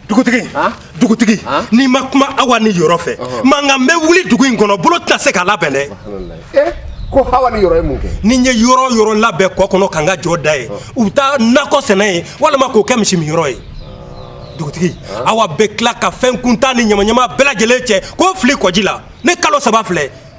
dugutigi dugutigi n'i ma kuma awa ni yɔrɔ fɛ mankan bɛ wuli dugu in kɔnɔ bolo tɛna se k'a labɛn dɛ eh, ko hawa ni yɔrɔ ye mun kɛ ni n ye yɔrɔ o yɔrɔ labɛn kɔ kɔnɔ ka n ka jɔ da yen u bɛ taa nakɔ sɛnɛ yen walima k'o kɛ misiminyɔrɔ ye dugutigi awa bɛ tila ka fɛn kuntan ni ɲamaɲama bɛɛ lajɛlen cɛ k'o fili kɔji la ne kalo saba filɛ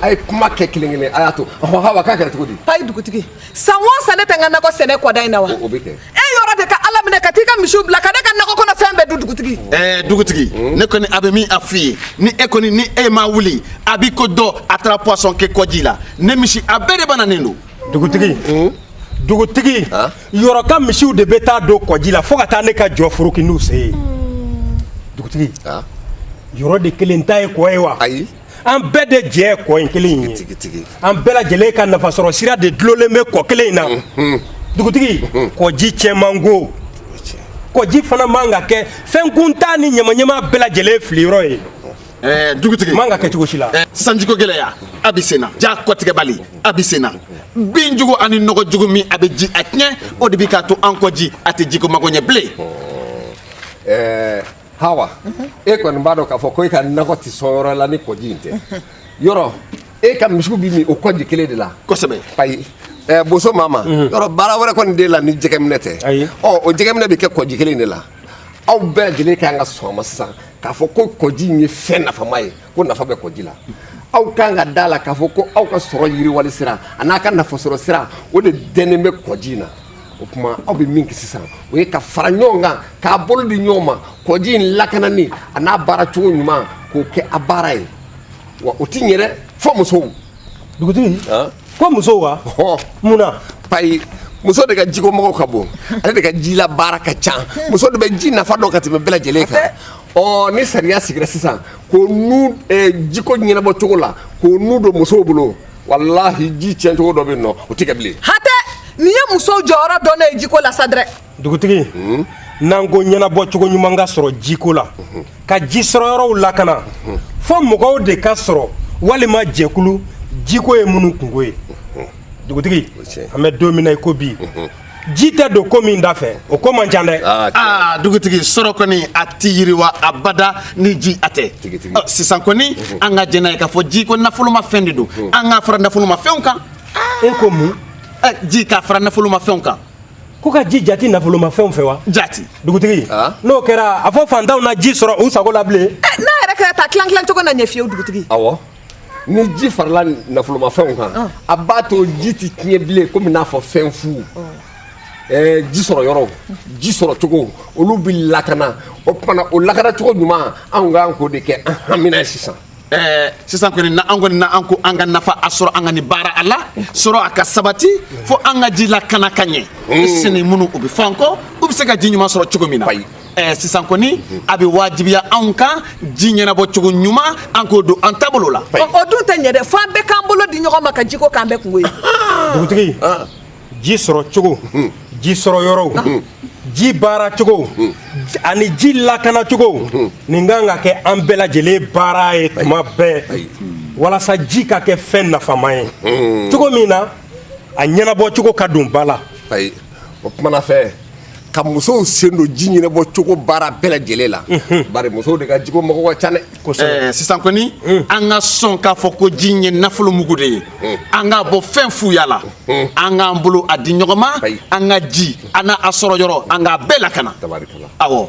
a ye kuma kɛ kelen kelen a y'a to ɔhɔn hawa k'a kɛra cogo di ayi dugutigi san o san ne tɛ n ka nakɔ sɛnɛ kɔda in na wa o bɛ kɛ e yɔrɔ de ka ala minɛ ka t'i ka misiw bila ka ne ka nakɔ kɔnɔ fɛn bɛɛ dun dugutigi ɛɛ dugutigi hmm? ne kɔni a bɛ min a f'i ye ni e kɔni ni e ma wuli a b'i ko dɔ a taara poison kɛ kɔji la ne misi a bɛɛ de bananen don dugutigi hmm? dugutigi yɔrɔ ka misiw de bɛ taa don kɔji la fo ka taa ne ka jɔ foroki n'u sen ye dugutigi yɔrɔ de kelen ta ye kɔ ye wa ayi an bɛɛ de jɛ ye kɔ in kelen ye an bɛɛ lajɛlen ka nafasɔrɔ sira de dulonnen bɛ kɔ kelen in na dugutigi kɔji cɛ man go kɔji fana man ka kɛ fɛn kuntan ni ɲamaɲama bɛɛ lajɛlen filiyɔrɔ ye Eh, dugutigi man ka kɛ cogo si la eh, sanjiko gɛlɛya a bɛ senna ja kɔtigɛbali a bɛ senna bin jugu ani nɔgɔ jugu min a bɛ ji a tiɲɛ o de bɛ k'a to an kɔji a tɛ jiko mago ɲɛ bilen eh, hawa e kɔni b'a dɔn k'a fɔ ko e ka nakɔ tɛ sɔn yɔrɔ la ni kɔji in tɛ yɔrɔ e ka misiw bɛ min o kɔji kelen de la kosɛbɛ ayi ɛ boso mama yɔrɔ baara wɛrɛ kɔni t'e la ni jɛgɛminɛ tɛ Ayi. ɔ o jɛgɛminɛ bɛ kɛ kɔji kelen de la aw bɛɛ lajɛlen kan ka sɔn a ma sisan k'a fɔ ko kɔji in ye fɛn nafama ye ko nafa bɛ kɔji la aw kan ka d'a la k'a fɔ ko aw ka sɔrɔ yiriwali sira ani a ka nafasɔrɔ sira o de dɛnnen bɛ kɔji in na o tuma aw bɛ min kɛ sisan o ye ka fara ɲɔgɔn kan k'a bolo di ɲɔgɔn ma kɔji in lakanani ani a baara cogo ɲuman k'o kɛ a baara ye wa o ti ɲɛ dɛ fo musow dugutigi ko musow wa mun na payi muso de ka jiko magow ka bon ale de ka jila baara ka ca muso de bɛ ji nafa dɔn ka tɛmɛ bɛɛ lajɛlen kan ɔ ni sariya sigira sisan ko nu jiko ɲɛnabɔ cogo la k'o nu don musow bolo walahi ji tiɲɛcogo dɔ bɛ yen nɔ o tɛ kɛ bilen. hatɛ nin ye musow jɔyɔrɔ dɔnnen ye jiko la sa dɛrɛ. dugutigi hmm? n'an ko ɲɛnabɔ cogo ɲuman ka sɔrɔ jiko la hmm. ka ji sɔrɔ yɔrɔw lakana hmm. fo mɔgɔw de ka sɔrɔ walima jɛkulu jiko ye minnu kunko ye dugutigi an bɛ don min na i ko bi ji tɛ don ko min dafɛ o ko man ca dɛ aa ah, ah, dugutigi sɔrɔ kɔni a tɛ yiriwa abada ni ji a tɛ sisan kɔni mhm. an ka jɛn n'a ye k'a fɔ ji ko nafoloma fɛn de don mhm. an k'a fara nafoloma fɛnw kan e ko mun eh, ji ka fara nafoloma fɛnw kan ko ka ji jate nafoloma fɛnw fɛ wa jati dugutigi ah. n'o kɛra a fɔ fantanw na ji sɔrɔ u sago la bilen eh, n'a yɛrɛ kɛra d'a tilan tilan cogo na ɲɛ fewu dugutigi awɔ ni ji farala nafolomafɛnw kan a b'a to ji tɛ tiɲɛ bilen komi n'a fɔ fɛn fu ji sɔrɔ yɔrɔ ji sɔrɔ cogo olu bɛ lakana o tuma o lakana cogo ɲuman anw ka kan k'o de kɛ an hamina sisan sisan kɔni n'an kɔni n'an ko an ka nafa a sɔrɔ an ka nin baara a la sɔrɔ a ka sabati fo an ka ji lakana ka ɲɛ sini minnu u bɛ f'an kɔ u bɛ se ka ji ɲuman sɔrɔ cogo min na ɛɛ sisan kɔni a bɛ wajibiya anw kan ji ɲɛnabɔ cogo ɲuman an k'o don an taabolo la. o dun tɛ ɲɛ dɛ fo an bɛɛ k'an bolo di ɲɔgɔn ma ka jiko k'an bɛɛ kunko ye. dugutigi ji sɔrɔ cogo ji sɔrɔ yɔrɔw ji baara cogo ani ji lakana cogo nin kan ka kɛ an bɛɛ lajɛlen baara ye tuma bɛɛ walasa ji ka kɛ fɛn nafama ye cogo min na a ɲɛnabɔ cogo ka don ba la. o tuma na fɛ ka musow sen don ji ɲɛnabɔ cogo baara bɛɛ lajɛlen la bari musow de ka jiko mago ka ca dɛ sisan kɔni an ka sɔn k'a fɔ ko ji ye nafolo mugu de ye an k'a bɔ fɛn fuya la an k'an bolo a di ɲɔgɔn ma an ka ji an'a sɔrɔ yɔrɔ an k'a bɛɛ lakana awɔ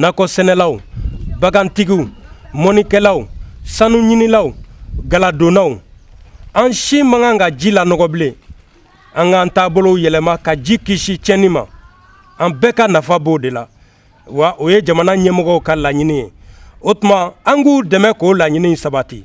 nakɔ sɛnɛlaw bagantigiw mɔnikɛlaw sanu ɲinilaw galadonnaw an si man kan ka ji lanɔgɔ bilen an k'an taabolow yɛlɛma ka ji kisi tiɲɛni ma an bɛɛ ka nafa b'o de la wa o ye jamana ɲɛmɔgɔw ka laɲini ye o tuma an k'u dɛmɛ k'o laɲini sabati